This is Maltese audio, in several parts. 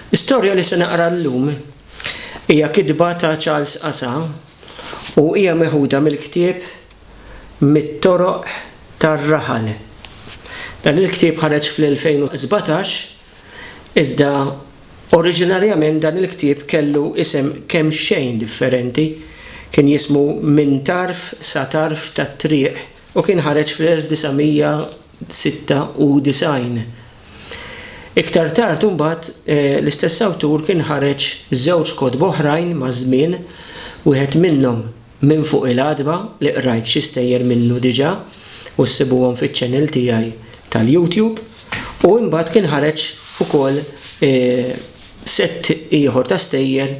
L-istorja li se naqra llum hija kitba ta' Charles Asa u hija meħuda mill-ktieb Mit-Toroq tar-Raħal. Dan il-ktieb ħareġ fl-2017, iżda oriġinarjament dan il-ktieb kellu isem kemxejn differenti, kien jismu Minn Tarf sa Tarf tat-Triq u kien ħareġ fl-1900. 96. Iktar tard imbagħad l-istess awtur kien ħareġ żewġ kotba oħrajn maż-żmien, wieħed minnhom Minn Fuq il-Għatba li qrajt xi stejjer minnu diġà u ssibuhom fiċ-channel tiegħi tal-YouTube, u imbagħad kien ħareġ ukoll sett ieħor ta' stejjer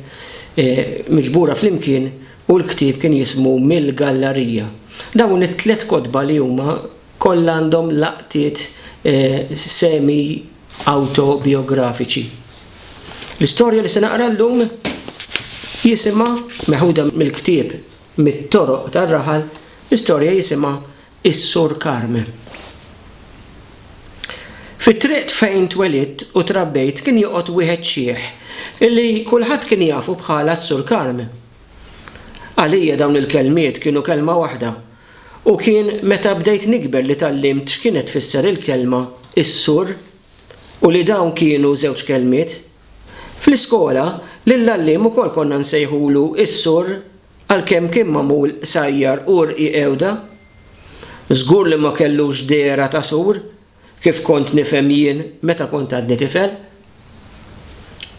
miġbura flimkien u l-ktieb kien jismu Mill-Gallarija. Dawn it-tliet kotba li huma Kollha għandhom laqtiet semi-awtobijografiċi. L-istorja li se naqra llum jisimha, meħuda mill-ktieb Mit-Toroq tar-Raħal, l-istorja jisimha Is-Sur Karme. Fit-triq fejn twelidt u trabbejt kien joqgħod wieħed xiħ li kulħadd kien jafu bħala s-Sur Karme. Għalija dawn il-kelmiet kienu kelma waħda, U kien meta bdejt nikber li tgħallimt x'kienet tfisser il-kelma is-sur u li dawn kienu żewġ kelmiet. Fl-iskola, lill-għalliem ukoll konna nsejħulu is-sur għalkemm kien magħmul qsajjar u rqiq għewda. Żgur li ma kellux dehra ta' sur kif kont nifhem jien meta kont għadni tifel.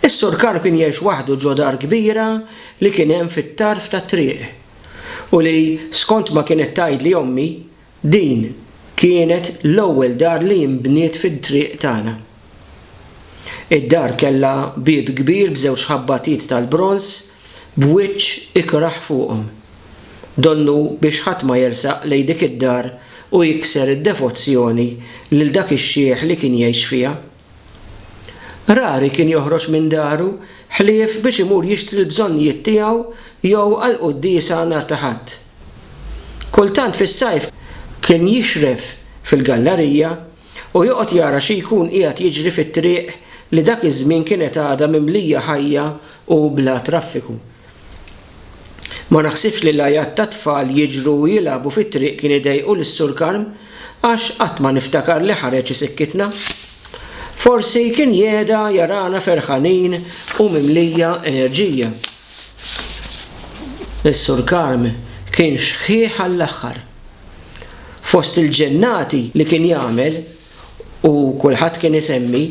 Is-Sur Karl kien jgħix waħdu ġo dar kbira li kien hemm fit-tarf tat-triq u li, skont ma kienet tgħidli ommi, din kienet l-ewwel dar li nbniet fit-triq tagħna. Id-dar kellha bieb kbir b'żewġ ħabbatiet tal-bronż b'wiċċ ikrah fuqhom. donnu biex ħadd ma jersaq lejn dik id-dar u jikser id-devozzjoni lil dak ix-xiħ li kien jgħix fiha. Rari kien joħroġ minn daru ħlief biex imur jixtri l-bżonnijiet tiegħu jew għall-quddiesa nhar ta' Ħadd. Kultant fis-sajf kien jixref fil-gallarija u joqgħod jara xi jkun qiegħed jiġri fit-triq li dak iż-żmien kienet għadha mimlija ħajja u bla traffiku. Ma naħsibx li l-għajat tat-tfal jiġru u jilagħbu fit-triq kien idejqu lis-Sur Karm għax qatt ma niftakar li ħareġ isikkitna. Forsi kien jehda jarana ferħanin u mimlija enerġija. Is-Sur Karm kien xħiħ għall-aħħar. Fost il-ġennati li kien jagħmel u kulħadd kien isemmi,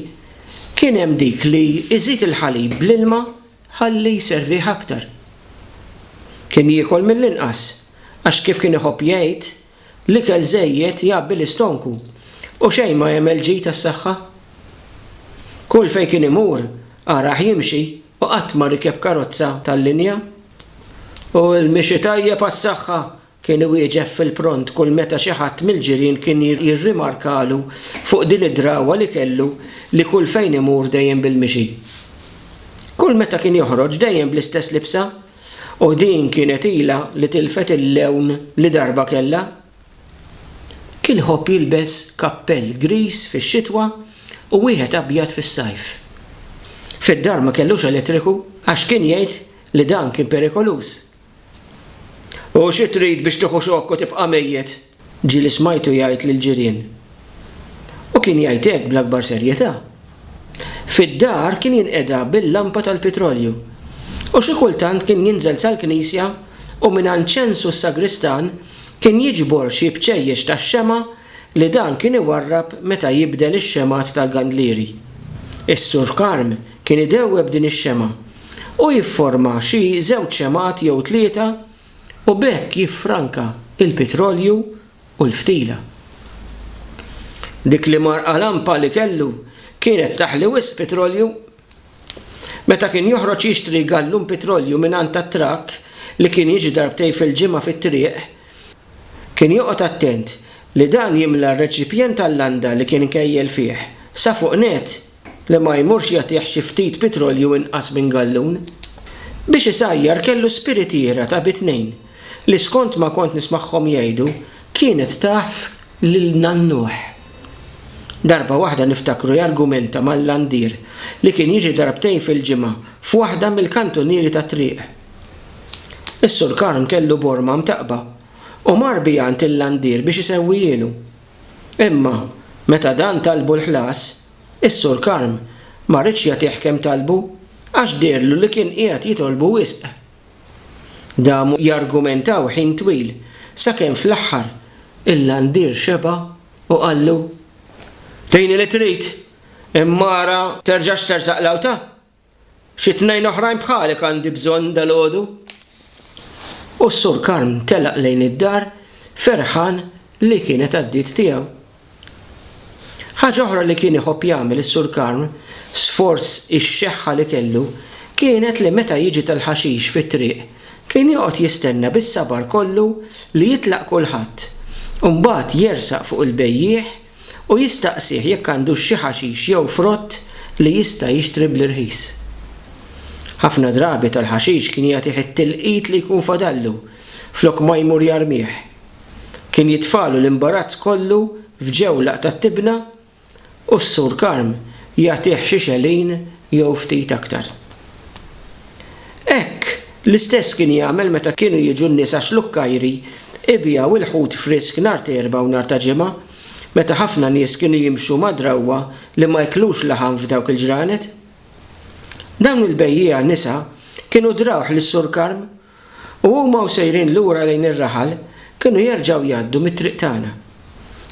kien hemm dik li iżid il-ħalib bl-ilma Ħalli jservih aktar. Kien jiekol mill-inqas, għax kif kien iħobb jgħid, l-ikel żejjed jgħabbi l-istonku u xejn ma jagħmel ġid għas-saħħa. Kull fejn kien imur, arah jimxi u qatt ma rikeb karozza tal-linja. U l-mixi tajjeb għas-saħħa, Kien iwieġeb fil-pront kull meta xi ħadd mill-ġirien kien jirrimarkalu fuq din id-drawwa li kellu li kull fejn imur dejjem bil-mixi. Kull meta kien joħroġ dejjem bl-istess libsa u din kienet ilha li tilfet il-lewn li darba kellha. Kien iħobb jilbes kappell griż fix-xitwa u wieħed abjad fis-sajf. Fid-dar ma kellux elettriku għax kien jgħid li dan kien perikoluż U xi trid biex tieħu xokk u tibqa' mejjet? Ġieli smajtu jgħid lill-ġirien. U kien jgħid hekk bl-akbar serjetà. Fid-dar kien jinqeda bil-lampa tal-pitrolju. U xi kultant kien jinżel sal-knisja u mingħand Ċensu s-sagristan kien jiġbor xi bċejjex tax-xemgħa li dan kien iwarrab meta jibdel ix-xemgħat tal-gandlieri. Is-Sur Karm kien idewweb din ix-xemgħa u jifforma xi żewġ xemgħat jew tlieta u b'hekk jiffranka l-pitrolju u l-ftila. Dik l-imgħarqa lampa li kellu kienet taħli wisq pitrolju. Meta kien joħroġ jixtri gallun pitrolju mingħand tat-trakk li kien jiġi darbtejn fil-ġimgħa fit-triq, Kien joqgħod attent li dan jimla r-reċipjent tal-landa li kien ikejjel fih sa fuq nett li ma jmurx jagħtih xi ftit pitrolju inqas minn gallun. Biex isajjar kellu spiritiera ta' bi tnejn li skont ma kont nismagħhom jgħidu kienet taf lil nannuh. Darba waħda niftakru jargumenta mal-landier li kien jiġi darbtejn fil-ġimgħa f'waħda mill-kantunieri tat-triq. Is-Sur Karm kellu borma mtaqqba u mar biha għand il-landier biex isewwihielu. Imma, meta dan talbu l-ħlas, is-Sur Karm ma riedx jagħtih kemm talbu għax deherlu li kien qiegħed jitolbu wisq. Damu jargumentaw ħin twil sakemm fl-aħħar il-landier xeba' u qallu, Tini li trid, imma ara terġax tersaq l-għawta Xi tnejn oħrajn bħalek għandi bżonn dalgħodu. U s-Sur Karm telaq lejn id-dar ferħan li kienet għaddiet tiegħu. Ħaġa oħra li kien iħobb jagħmel is-Sur Karm, sforz ix-xeħħa li kellu, kienet li meta jiġi tal-ħaxix fit-triq, kien joqgħod jistenna bis-sabar kollu li jitlaq kulħadd, u mbagħad jersaq fuq il-bejjiegħ u jistaqsih jekk għandux xi ħaxix jew frott li jista' jixtri bl-irħis. Ħafna drabi tal-ħaxix kien jagħtih it-tilqit li jkun fadallu flok ma jmur jarmih. Kien jitfagħlu l-imbarazz kollu f'ġewlaq tat-tibna u s-Sur Karm jagħtih xi xelin jew ftit aktar. Hekk! L-istess kien jagħmel meta kienu jiġu n-nisa Xlukkajri jbiegħu l-ħut frisk nhar t'Erbgħa u nhar ta' Ġimgħa, meta ħafna nies kienu jimxu ma' drawwa li ma jklux laħam f'dawk il-ġranet. Dawn il-bejjiegħa nisa kienu drawh lis-Sur Karm u huma u sejrin lura lejn ir-raħal kienu jerġgħu jgħaddu mit-triq tagħna.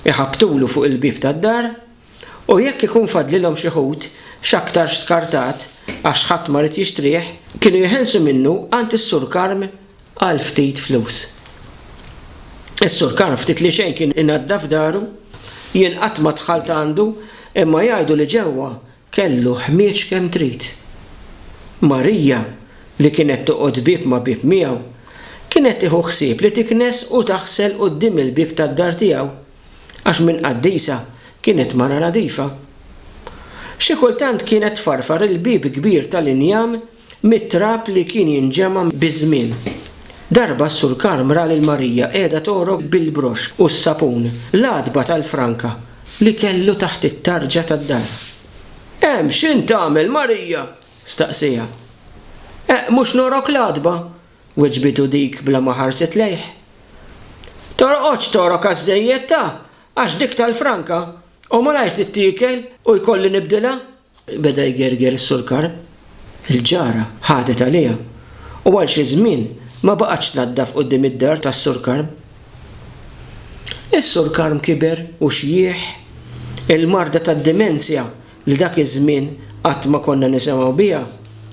Iħabbtulu fuq il-bieb tad-dar u jekk ikun fadlilhom xi ħut, x'aktarx skartat, għax ħadd ma ried jixtrih, kienu jeħilsu minnu għand is-Sur Karm għal ftit flus. Is-Sur Karm ftit li xejn kien inaddaf daru, jien qatt ma dħalt għandu imma jgħidu li ġewwa kellu ħmieġ kemm trid. Marija, li kienet toqgħod bieb ma' bieb miegħu, kienet tieħu ħsieb li tiknes u taħsel quddiem il-bieb tad-dar tiegħu. għax minn qaddisa kienet mara nadifa. Xi kultant kienet tfarfar il-bieb kbir tal-injam mit-trab li kien jinġema' biż-żmien. Darba s-Sur Karm ra lil Marija qiegħda togħrok bil-broxx u s-sapun l-għatba tal-franka li kellu taħt it-tarġa tad-dar. Hemm x'int tagħmel, Marija? staqsieha. Eq, mhux nogħrok l-għatba? Weġbitu dik bla ma ħarset lejh. Torqodx togħrok għaż-żejjed ta! Għax dik tal-franka, u malajr tittiekel u jkolli nibdilha! Beda jgerger is-sulkar. Il-ġara ħadet għaliha u għal xi żmien ma baqgħetx tnaddaf quddiem id-dar tas-Sur Karm. Is-Sur Karm kiber u xjieħ. Il-marda tad-dimensja li dak iż-żmien qatt ma konna nisemgħu biha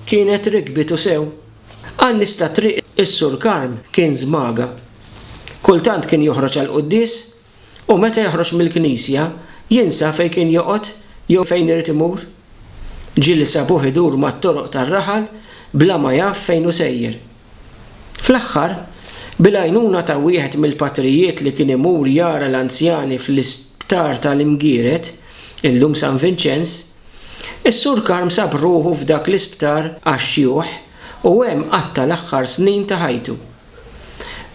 kienet rikbitu sew. Għan-nies ta' Triq is-Sur Karm kien żmaga. Kultant kien joħroġ għall-quddies u meta joħroġ mill-knisja jinsa fejn kien joqgħod jew fejn irid imur. Ġieli sabuh idur mat-toroq tar-raħal bla ma jaf fejn hu sejjer. Fl-aħħar, bil-għajnuna ta' wieħed mill-patrijiet li kien imur jara l-anzjani fl-Isptar tal-Imgired, illum San Vinċenz, Is-Sur Karm sab ruħu f'dak l-isptar għax-xjuħ u hemm qatta' l-aħħar snin ta' ħajtu.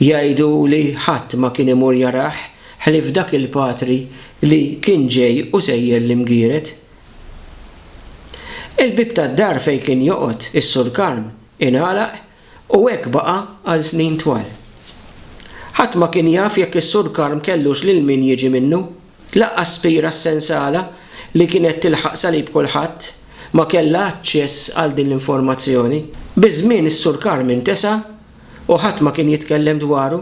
Jgħidu li ħadd ma kien imur jarah ħlief dak il-patri li kien ġej u sejjer l-imgiered. Il-bieb tad-dar fejn kien joqgħod is-Sur Karm ingħalaq U hekk baqa' għal snin twal. Ħadd ma kien jaf jekk is-Sur Karm kellux lil min jiġi minnu. Lanqas Spira s-sensala, li kienet tilħaq salib kulħadd, ma kellha aċċess għal din l-informazzjoni. Biż-żmien is-Sur Karm intesa' u ħadd ma kien jitkellem dwaru.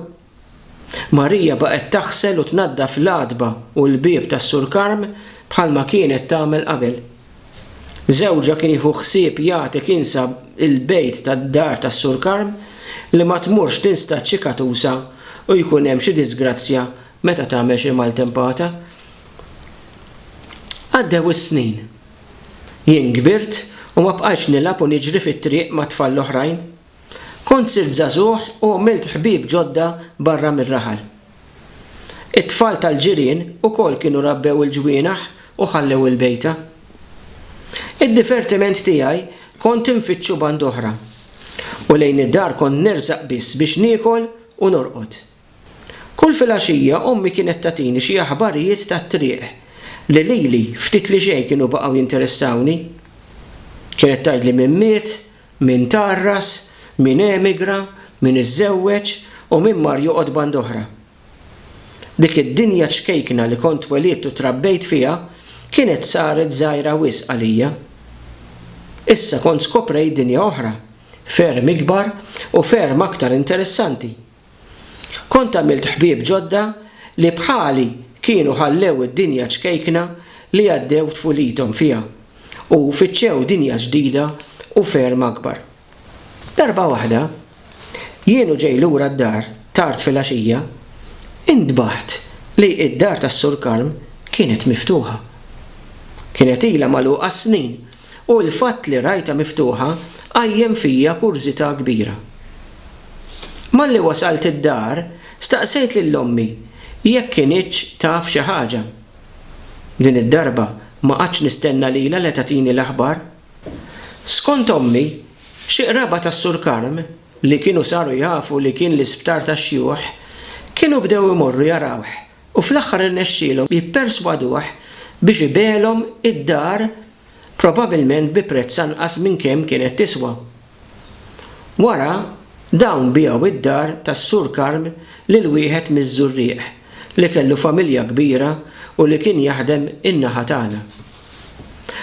Marija baqgħet taħsel u tnaddaf l-għatba u l-bieb tas-Sur Karm bħalma kienet tagħmel qabel. Żewġha kien jieħu ħsieb jagħti kinsa il-bejt tad-dar tas-Sur Karm li ma tmurx tinstad xi katusa u jkun hemm xi diżgrazzja meta tagħmel xi maltempata. Għaddew is-snin. Jien kbirt u ma bqajtx nilgħab u niġri fit-triq mat-tfal l-oħrajn. Kont sirt żagħżugħ u għmilt ħbieb ġodda barra mir-raħal. It-tfal tal-ġirien ukoll kienu rabbew il-ġwienaħ u ħallew il-bejta. Id-divertiment tiegħi kont infittxu band'oħra, u lejn id-dar kont nersaq biss biex niekol u norqod. Kull filgħaxija ommi kienet tagħtini xi aħbarijiet tat-triq li lili ftit li xejn kienu baqgħu jinteressawni. Kienet tgħidli min miet, min tgħarras, min emigra, min iżżewweġ u min mar joqgħod band oħra. Dik id-dinja ċkejkna li kont twelidt u trabbejt fiha kienet saret żgħira wisq għalija. Issa kont skoprejt dinja oħra, ferm ikbar u ferm aktar interessanti. Kont għamilt ħbieb ġodda li bħali kienu ħallew id-dinja ċkejkna li għaddew tfulithom fiha u fittxew dinja ġdida u ferm akbar. Darba waħda, jien u ġej lura d-dar tard filgħaxija, intbaħt li d-dar tas-Sur Karm kienet miftuħa. Kienet ilha magħluqa s-snin u l-fatt li rajtha miftuħa qajjem fija kurżità kbira. Malli wasalt id-dar, staqsejt lil ommi jekk kinitx taf xi ħaġa. Din id-darba ma qgħadtx nistenna lilha le tagħtini l-aħbar. Skont ommi, xi qraba tas-Sur Karm li kienu saru jafu li kien l-isptar tax-xjuħ, kienu bdew imorru jarawh u fl-aħħar irnexxielhom jipperswaduh biex ibegħlhom id-dar probabilment bi prezz anqas minn kemm kienet tiswa. Wara, dawn biegħu d-dar tas-Sur Karm lil wieħed miż-Żurrieq li kellu familja kbira u li kien jaħdem in-naħa tagħna.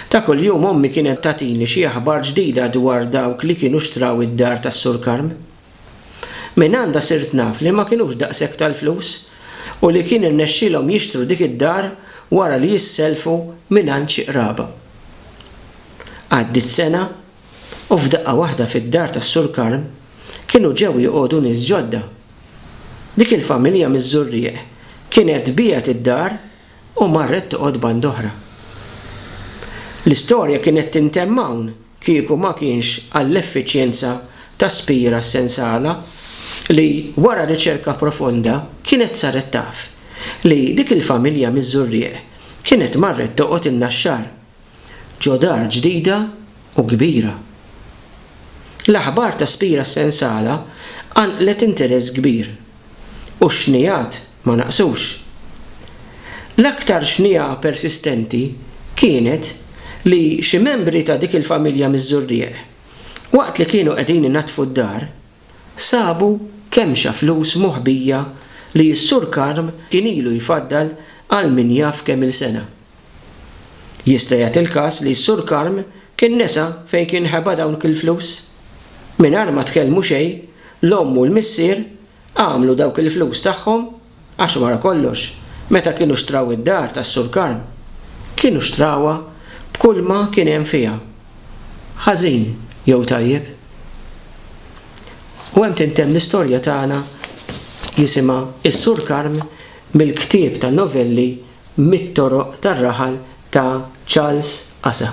Ta' kuljum ommi kienet tagħtini xi aħbar ġdida dwar dawk li kienu xtraw id-dar tas-Sur Karm. Mingħandha sirt naf li ma kinux daqshekk tal-flus u li kien irnexxielhom jixtru dik id-dar wara li jissellfu mingħand xi qraba. Għaddiet sena U f'daqqa waħda fid-dar tas-Sur Karm kienu ġew joqogħdu nies ġodda. Dik il-familja miż-Żurrieq kienet biegħet id-dar u marret toqgħod banda oħra. L-istorja kienet tintemm hawn kieku ma kienx għall-effiċjenza ta' Spira s-sensala li, wara riċerka profonda, kienet saret taf li dik il-familja miż-Żurrieq kienet marret toqgħod in-Naxxar. ġo dar ġdida u kbira. L-aħbar ta' Spira Sensala qanqlet interess kbir u x-xnigħat ma naqsux. L-aktar xnigħa persistenti kienet li xi membri ta' dik il-familja miż-Żurrieq, waqt li kienu qegħdin inaddfu d-dar, sabu kemxa flus moħbija li s-Sur Karm kien ilu jfaddal għal min jaf kemm-il sena. Jista' jagħti l-każ li s-Sur Karm kien nesa fejn kien ħeba dawk il-flus. Mingħajr ma tkellmu xejn, l-omm u l-missier għamlu dawk il-flus tagħhom għax wara kollox meta kienu xtraw id-dar tas-Sur Karm, kienu xtrawha b'kulma kien hemm fiha, ħażin jew tajjeb. U hemm tintemm l-istorja tagħna jisimha Is-Sur Karm mill-ktieb ta' novelli mit-toroq tar-raħal ta' Charles Asa.